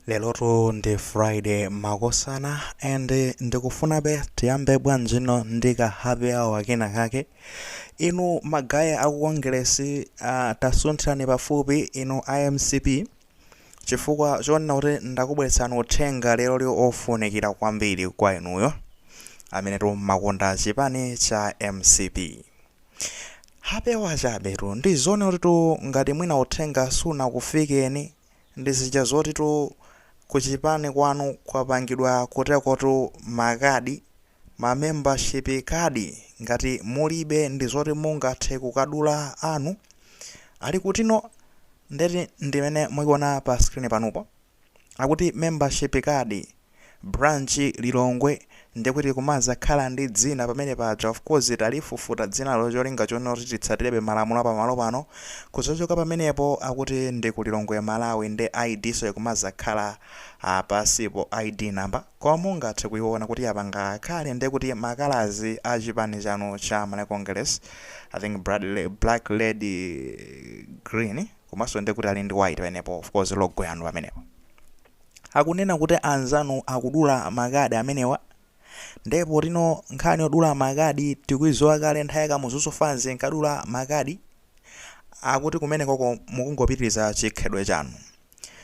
lelotu ndi friday makosana and ndikufunabe tiyambe bwa mzino ndi ka happy hour kena kake inu magaye aku kongeresi uh, tasunthirani pafupi inu a mcp chifukwa chonena kuti ndakubweretsani uthenga leroli ofunikira kwambiri kwa inuyo amenetu mumakonda chipani cha mcp happy hour chabetu ndi zoona kutitu ngati mwina uthenga sunakufikeni Ndi zija zotitu ku chipani kwanu kwapangidwa kutekotu makadi, a membership card, ngati mulibe ndizoti mungathe kukadula anu. Ali kutino? Ndeti ndimene mukuiona pa screen panupo. Akuti membership card. Branch Lilongwe ndekuti kumazakhala ndi dzina pamene paja of course talifufuta dzinalo cholinga chonena kuti titsatirebe malamulo apamalo pano kuzachoka pamenepo akuti ndi ku Lilongwe Malawi nde ID-nso ikumazakhala pansipo ID number koma mungathe kuiona kuti apanga kale ndekuti ma colours a chipani chanu cha Malawi Congress I think Black Red Green komanso ndekuti ali ndi white pamenepo of course logo yanu pamenepo akunena kuti anzanu akudula makadi amenewa nde potino nkhani yodula makadi tikuiziwa kale nthawi ya Kamuzuso fans inkadula makadi akuti kumenekoko mukungopitiriza chikhalidwe chanu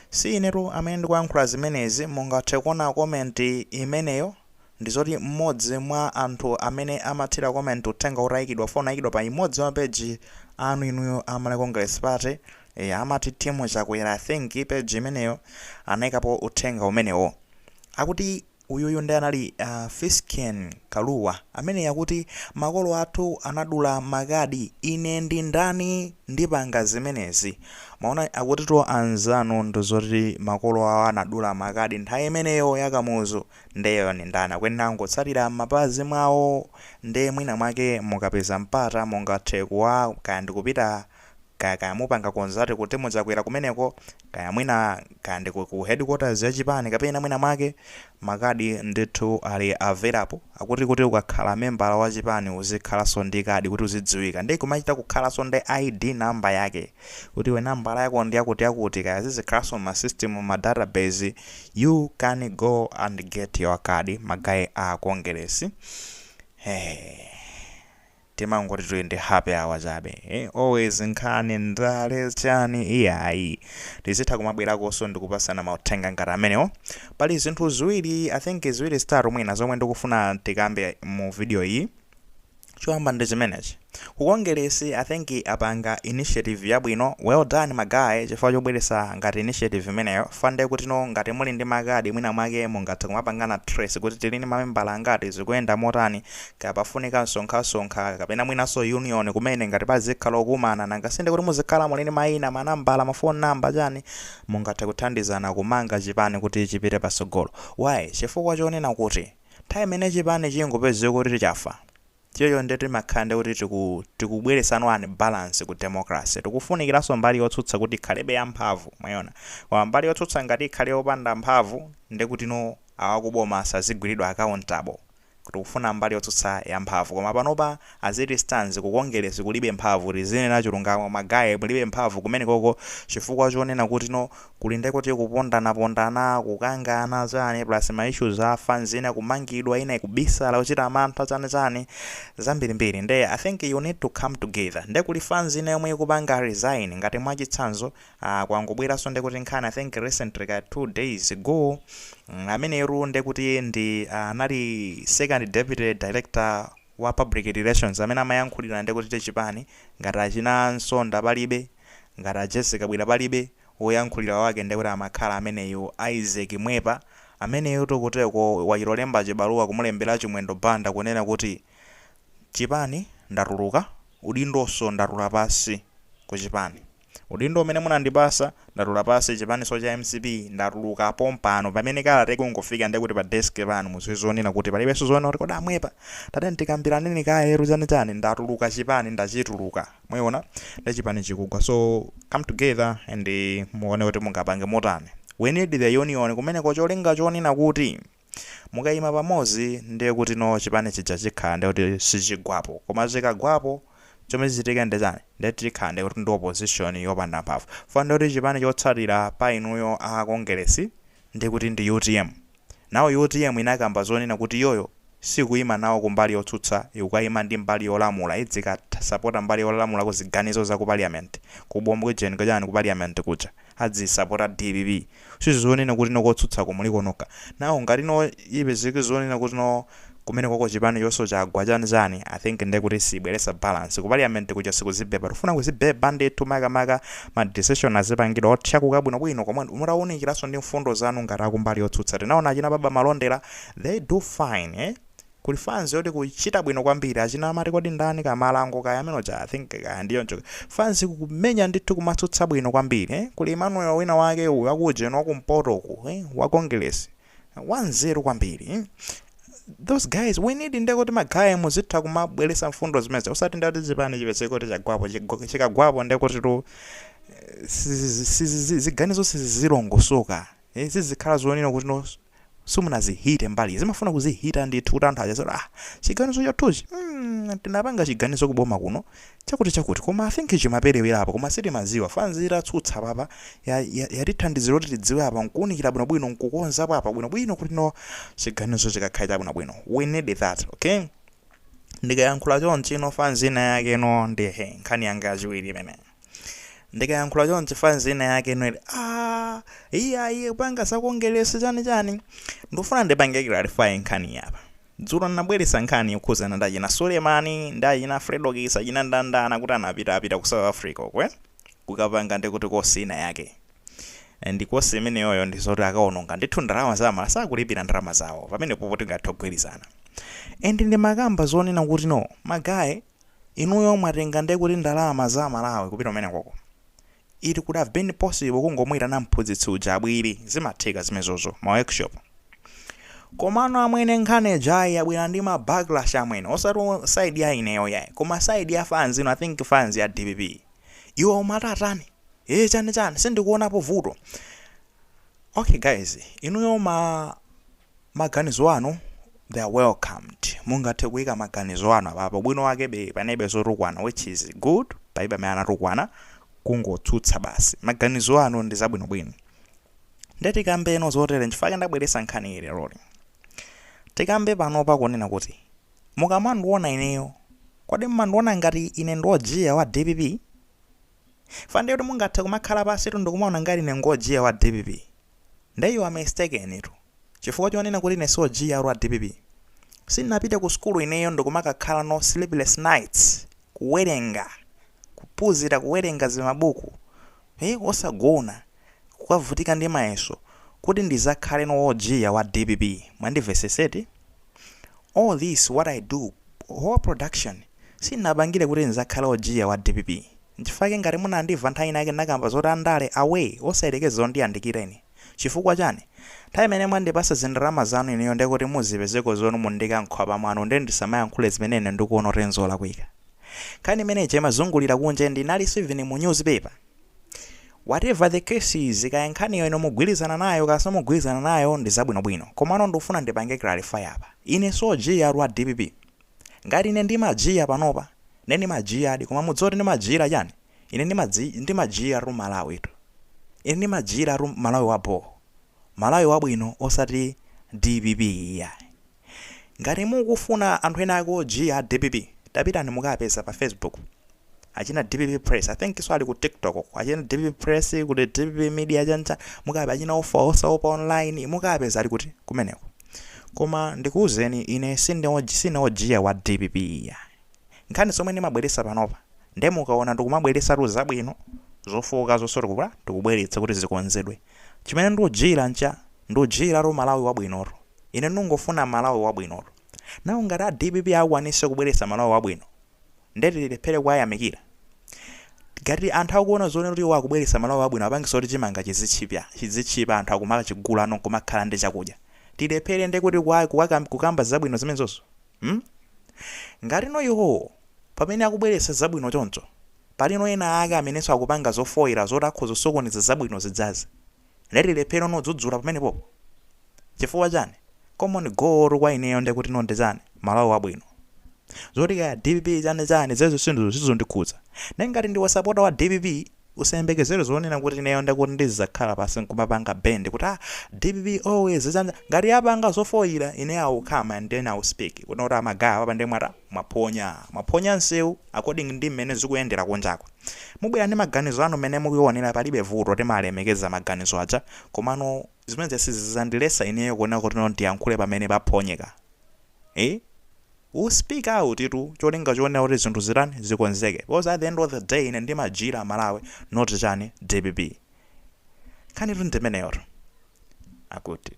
si inetu amene ndikuyankhula zimenezi mungathe kuona comment imeneyo ndizoti mmodzi mwa anthu amene amathira comment uthenga utayikidwa unaikidwa pa imodzi mwa ma page anu inuyo a Malawi Congress Party Eya amati Team Chakwera I think page imeneyo anaikapo uthenga umenewo. Akuti uyuyu ndi anali uh, Fisken Kaluwa amene akuti makolo athu anadula makadi ine ndi ndani ndipanga zimenezi. Mwaona akutitu anzanu ndizoti makolo awo anadula makadi nthawi imeneyo ya Kamuzu nde iwo ndi ndani akuyenera kungotsatira mmapazi mwawo nde mwina mwake mukapeza mpata mungathe kuwa kaya ndikupita Kaya kaya mupanga conduct kuti mudzaquera kumeneko, kaya mwina kaya ndi ku, ku headquarters ya chipani kapena mwina mwake, makadi ndithu ali available akuti kuti ukakhala membala wa chipani uzikhalanso ndi kadi kuti uzidziwika, ndiye kumachita kukhalanso ndi ID number yake kuti iwe nambala yako ndi yakuti yakuti, kaya zizikhalanso mu system ma database, you can go and get your card magaye a Kongeresi. Hey. timangoti tili ndi happy hour chabe eh always nkhani ndale chani iyayi tizitha kumabwerakonso ndikupasana mauthenga ngati amenewo pali zinthu ziwiri i think ziwiri zitatu mwina zomwe ndikufuna tikambe mu video iyi choyamba ndi chimenechi ku kongeresi i think apanga initiative yabwino well done ma guy chifukwa chobweresa ngati initiative imeneyo chifukwa nde kuti no ngati muli ndi makadi mwina mwake mungathe kumapangana trace kuti tili ndi mamembala angati zikuyenda motani Kaya pafunika msonkhasonkha kapena mwinanso union kumene ngati pazikhala okumana nanga sindikuti muzikhala muli ndi maina, manambala, ma phone number chani mungathe kuthandizana kumanga chipani kuti chipite patsogolo. Why? Chifukwa chonena kuti nthawi imene chipani chingopezeka kuti chafa chocho nde timakhala nde kuti tiku tikubweresa an unbalance ku democracy. Tikufunikiranso mbali yotsutsa kuti ikhalebe ya mphamvu mwayiona. Koma mbali yotsutsa ngati ikhale yopanda mphamvu ndekutino awakuboma sazigwiridwa accountable. tikufuna mbali yotsutsa ya mphamvu koma panopa as it stands ku kongeresi kulibe mphamvu tizinena chulungamo ma guy mulibe mphamvu kumenekoko chifukwa chonena kuti no kuli nde kuti kupondana pondana kukangana chani plus ma issues a fans ina kumangidwa ina ikubisala kuchita mantha chani chani zambiri mbiri nde i think you need to come together nde kuli fans ina yomwe ikupanga resign ngati mwachitsanzo Aaa kwangobweranso ndekuti nkhani I think recently kaya 2 days ago ameneyotu ndekuti ndi anali second deputy director wa public relations amene amayankhulira ndekuti chipani ngati achina Nsonda palibe ngati a Jessie Kabwira palibe woyankhulira wake ndekuti amakhala ameneyu Isaac Mwepa ameneyotu kuteko wachilolemba chibaluwa kumulembera Chimwendo Banda kunena kuti chipani ndatuluka udindonso ndatula pansi kuchipani. Udindo umene munandipasa ndatula pasi chipaniso cha mcp ndatuluka pompano pamene kalata ikungofika ndekuti pa desk panu muziwe zonena kuti palibeso zoona kuti kodi a Mwepa tatiyeni tikambilaneni kayetu chani chani ndatuluka chipani ndachituluka mwayiona nde chipani chikugwa so come together and muone kuti mungapange motani we need the union kumeneko cholinga chonena kuti Mukayima pamodzi ndiye kuti no chipani chija chikhala ndiye kuti sichigwapo koma chikagwapo chomwe chichitike ndi chani ndiye chikhala ndiye kuti ndi opposition yopanda mphamvu chifukwa ndiye kuti chipani chotsatira pa inuyo a Kongeresi ndiye kuti ndi utm nawo utm inakamba zonena kuti iyoyo sikuyima nawo kumbali yotsutsa ikukayima ndi mbali yolamula izikasapota mbali yolamulako ziganizo za ku Parliament ku bungwe kuja ku Parliament kuja azisapota dpp nde zonena kuti no kotsutsako muliko nokha now ngati no ipezeke zonena kuti no kumenekoko chipani chonso chagwa chani chani i think nde kuti sibweresa balance ku parliament kuja sikuzibhebha tifuna kuzibhebha ndithu maka maka ma decision azipangidwa othyakuka bwino bwino komwe mutaunikiraso ndi mfundo zanu ngati akumbali yotsutsa tinaona achina baba malondera they do fine eh Kuli fans yoti kuchita bwino kwambiri achina amati kodi ndani kamalango kaya amene uja I think kaya ndi choncho fans kumenya ndithu kumatsutsa bwino kwambiri eh kuli Emmanuel wina wake uyu aku ujeni wakumpoto uku eh wa Kongilesi wanzeru kwambiri eh those guys we need nde kuti magaye muzitha kumabweretsa mfundo zimenezo usati nde kuti chipani chipezeke kuti chagwapo chigwa- chikagwapo nde kuti tu sizi- sizi- ziganizo sizizilongosoka zizikhala zonena kuti no simunazichite mbali zimafuna kuzichita ndithu kuti anthu aja zoti ah chiganizo chathuchi mm, tinapanga chiganizo kuboma kuno chakuti chakuti koma I think chimaperewera apa koma sitimaziwa fans itatsutsa apapa yatithandizira ya, ya kuti tidziwe apa nkuunikira bwinobwino nkukonzapo apa bwinobwino kuti no chiganizo chikakhala chabwinobwino we need that okay ndikayankhula chonchi no fans ina yake no ndiye nkhani yanga yachiwiri imeneyo ndikayankhula chonchi fans ina yake ineyo ah iya iye kupanga za kongilesi chani chani ndikufuna ndipange clarify nkhani iyi apa dzulo ndinabweretsa nkhani yokhuzana ndi achina sulemani ndi achina fredo kisa achina ndandana kuti anapita apita ku south africa okay kukapanga ndi kuti kosi ina yake ndi kosi imeneyoyo ndi zoti akaononga ndithu ndalama za amalawi sakulipira ndalama zawo pamenepo poti tingathe kugwirizana and ndimakamba zonena kuti no magaye Inuyo mwatenga nde kuti ndalama za amalawi kupita kumenekoko? It could have been possible kungomuitana mphunzitsi uja abwele, zimatheka zimezozo, ma workshop. Komano amwene nkhani ijayi yabwela ndi ma backlash amwene, osati side ya ineyo yayi, koma side ya fans inu, I think fans ya dpp. Iwo umati atani? Eeh chani chani? Sindikuonapo vuto. Okay guys, inuyo ma. Maganizo anu they are welcomed mungathe kuika maganizo anu apapo ubwino wake panalibe zotukwana which is good palibe amene anatukwana kungotsutsa basi maganizo anu ndi zabwinobwino nde tikambeno zotere nchifukwa chake ndabweresa nkhani iyi leroli tikambe panopa kunena kuti mukamandiona ineyo kodi mmandiona ngati ine ndi ojiya wa dpp Chifukwa ndiye kuti mungathe kumakhala pansi tu ndikumaona ngati ine ngojiya wa dpp. Ndiye you are mistaken tu. Chifukwa chonena kuti ine si ojiya wa dpp. Sindinapite ku sukulu ineyo ndikumakakhala no sleepless nights kuwerenga, kuphunzira kuwerenga zimabuku, eh, osagona, kukavutika ndi mayeso kuti ndizakhale no ojiya wa dpp. Mwandivesesa eti? All this what I do whole production sindinapangire kuti ndizakhale ojiya wa dpp nchifukwa chake ngati munandimva nthawi ina yake ndinakamba zoti andale away osayelekeza kundiyandikira ine chifukwa chani nthawi imene mwandipasa zindalama zanu inuyo nde kuti muzipezeko zoti mundiika mkhwapa mwanu nde ndisamayankhule zimene ine ndikuona kuti nzolakwika nkhani imeneija imazungulira kunja and inalinso even mu news paper Whatever the case is, kaya nkhaniyo inu mugwirizana nayo kaya simugwirizana nayo ndi zabwinobwino. Komano ndikufuna ndipange clarify apa. Ine si ojiyatu wa dpp. Ngati ine ndimajiya panopa, ndiye ndimajiyadi. Koma mudziwe kuti ndimajiyira chani? Ine ndimadzi, ndimajiyiratu Malawitu. Ine ndimajiyiratu Malawi wabho. Malawi wabwino osati dpp iyayi. Ngati mukufuna anthu ena ake ojiya a dpp tapitani mukaapeza pa facebook achina dpp press i think so ali ku tiktok uko achina dpp press kuli dpp media chan chan mukapeze achina ofa osaopa online mukaapeza ali kuti kumeneko koma ndikuuzeni ine sine ojiya sine ojiya wa dpp iyayi. nkhani zomwe ndimabweretsa panopa nde mukaona ndikumabweretsatu zabwino, zofooka zonso tikubwera tikubweretsa kuti zikonzedwe. Chimene ndikujiila ncha ndikujiilatu Malawi wabwinotu. Ine ndikungofuna Malawi wabwinotu. Now ngati a dpp akwanitse kubweretsa Malawi wabwino nde tilephele kuwayamikira? Ngati anthu akuona zoona kuti iwo akubweretsa Malawi wabwino apangitsa kuti chimanga chizitchipya, chidzitchipa anthu akumakachigulano nkumakhala ndi chakudya, tilephele ndekuti kuwa kuwa kukamba zabwino zimenezozo? Hmm? Ngatino iwowo, pamene akubweretsa zabwino choncho, palino ena ake amenenso akupanga zofoira zoti akhoza kusokoneza zabwino zidzazi, nde tilephere no dzudzula pamenepopo? Chifukwa chani? Common goal-tu kwa ineyo nde kuti no ndi chani? Malawi wabwino. Zoti kaya dpp chani chani, zimenezo sindizo, sizondikhudza. Nde ngati ndiwe wasapota wa dpp, Usayembekezere zonena kuti ineyo ndekuti ndizidzakhala pansi nkumapanga bend kuti ah dpp always zidzanza ngati yapanga zofoyira ine I will come and then I will speak kunena kuti ah ma guy apapa ndiye mwata mwaphonya mwaphonya nseu according ndi mmene zikuyendera kunjaku mubwera ndi maganizo anu mmene mukuonera palibe vuto timalemekeza maganizo aja komano zimenezi sizidzandiletsa ineyo kunena kuti no ndiyankhule pamene paphonyeka eeh ku-speak out-tu cholinga chonena kuti zinthu zitani zikonzeke because at the end of the day ine ndimajiyira Malawi not chani dpp nkhanitu ndimeneyotu akutitu.